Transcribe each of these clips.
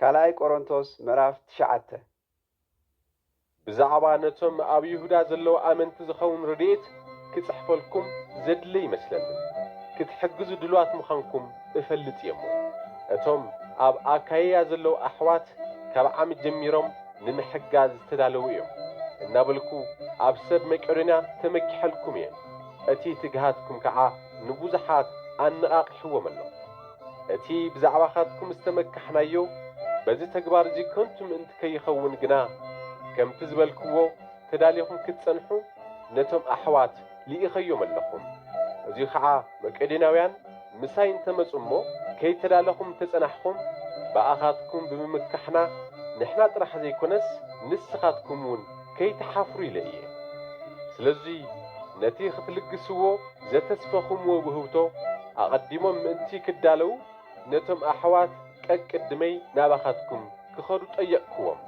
ካልኣይ ቆሮንቶስ ምዕራፍ ትሽዓተ። ብዛዕባ ነቶም ኣብ ይሁዳ ዘለዉ ኣመንቲ ዝኸውን ረድኤት ክጽሕፈልኩም ዘድሊ ኣይመስለንን። ክትሕግዙ ድሉዋት ምዃንኩም እፈልጥ እየ እሞ፣ እቶም ኣብ ኣካይያ ዘለዉ ኣሕዋት ካብ ዓሚ ጀሚሮም ንምሕጋዝ ዝተዳለዉ እዮም እናበልኩ ኣብ ሰብ መቄዶንያ ተመኪሐልኩም እየ። እቲ ትግሃትኩም ከኣ ንብዙሓት ኣነቓቒሕዎም ኣሎ። እቲ ብዛዕባኻትኩም ዝተመካሕናዮ በዚ ተግባር እዚ ከንቱ ምእንቲ ከይኸውን ግና፣ ከምቲ ዝበልክዎ ተዳሊኹም ክትጸንሑ ነቶም ኣሕዋት ልኢኸዮም ኣለኹም። እዙይ ኸዓ መቄዶንያውያን ምሳይ እንተ መጹ እሞ ከይተዳለኹም እንተ ጸናሕኹም፣ ብኣኻትኩም ብምምካሕና ንሕና ጥራሕ ዘይኮነስ ንስኻትኩምውን፣ ከይትሓፍሩ ኢለ እየ። ስለዚ ነቲ ክትልግስዎ ዘተስፈኹምዎ ውህብቶ ኣቐዲሞም ምእንቲ ክዳለው ነቶም ኣሕዋት ቀቅድመይ ናባኻትኩም ክኸዱ ጠየቕክዎም።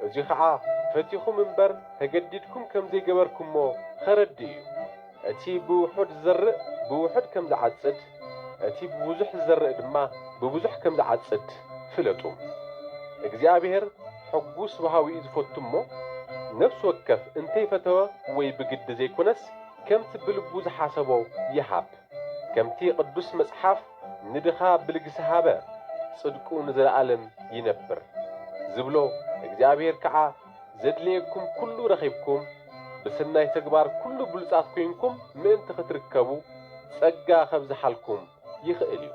እዚ ኸኣ ፈቲኹም እምበር ተገዲድኩም ከም ዘይገበርኩሞ ኸረድእ እዩ። እቲ ብውሑድ ዝዘርእ ብውሑድ ከም ዝዓጽድ፣ እቲ ብብዙሕ ዝዘርእ ድማ ብብዙሕ ከም ዝዓጽድ ፍለጡ። እግዚኣብሄር ሕጉስ ወሃቢ'ዩ ዝፈቱ እሞ፣ ነፍሲ ወከፍ እንተይፈተወ ወይ ብግዲ ዘይኮነስ ከምቲ ብልቡ ዝሓሰቦ ይሃብ። ከምቲ ቅዱስ መጽሓፍ ንድኻ ብልግሲ ሃበ፣ ጽድቁ ንዘለኣለም ይነብር ዝብሎ፣ እግዚኣብሄር ከኣ፣ ዘድልየኩም ኩሉ ረኺብኩም ብስናይ ተግባር ኩሉ ብሉጻት ኩይንኩም ምእንቲ ክትርከቡ ጸጋ ከብዝሓልኩም ይኽእል እዩ።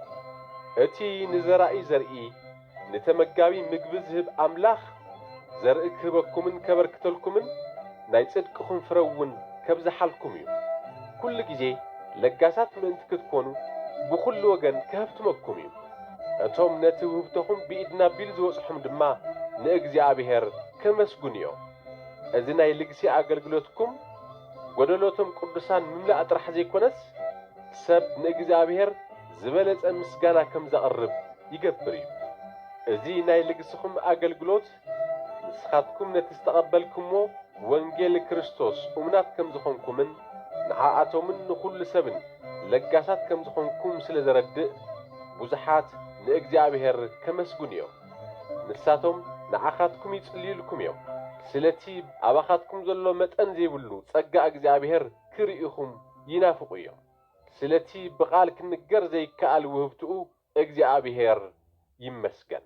እቲ ንዘራኢ ዘርኢ፣ ንተመጋቢ ምግቢ ዝህብ ኣምላኽ ዘርኢ ክህበኩምን ከበርክተልኩምን ናይ ጽድቅኹም ፍረ እውን ከብዝሓልኩም እዩ። ኩሉ ግዜ ለጋሳት ምእንቲ ክትኮኑ ብኹሉ ወገን ከሀብትመኩም እዩ። እቶም ነቲ ውህብቶኹም ብኢድና ቢል ዝበጽሑም ድማ ንእግዚኣብሔር ከመስግኑ እዮም። እዚ ናይ ልግሲ ኣገልግሎትኩም ጎደሎ'ቶም ቅዱሳን ምምላእ ጥራሕ ዘይኮነስ ሰብ ንእግዚኣብሔር ዝበለጸ ምስጋና ከም ዘቕርብ ይገብር እዩ። እዚ ናይ ልግስኹም ኣገልግሎት፣ ንስኻትኩም ነቲ ዝተቐበልኩምዎ ወንጌል ክርስቶስ እሙናት ከም ዝኾንኩምን ንዓኣቶምን ንኹሉ ሰብን ለጋሳት ከም ዝኾንኩም ስለ ዘረድእ ብዙሓት ንእግዚኣብሔር ከመስግኑ እዮም። ንሳቶም ንዓኻትኩም ይጽልዩልኩም እዮም ስለቲ ኣባኻትኩም ዘሎ መጠን ዘይብሉ ጸጋ እግዚኣብሔር ክርእኹም ይናፍቑ እዮም። ስለቲ ብቓል ክንገር ዘይከኣል ውህብትኡ እግዚኣብሔር ይመስገን።